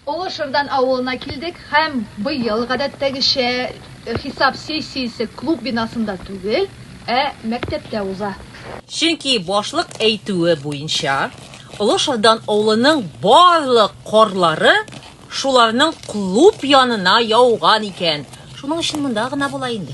Олы Шырдан авылына килдек һәм быел, гадәттәгечә, хисап сессиясе клуб бинасында түгел, ә мәктәптә уза. Чөнки, башлык әйтүе буенча, Олы Шырдан авылының барлык карлары шуларның клуб янына яуган икән, шуның өчен монда гына була инде.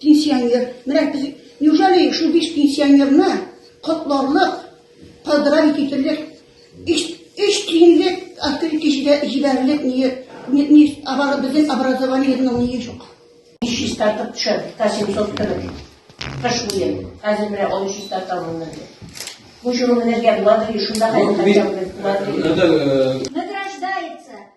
Пенсионер. Менә без неужели шул биш пенсионерны котларлык, поздравить итерлек, эш эш тиенлек открытие җибәрерлек ни ни безнең образованиеның ни юк. 500 тартып төшә, 700 төрле. Кыш буе. Хәзер менә 1300 тартамын. Бу җырны менергә буладыр, шунда хәзер хәтта буладыр.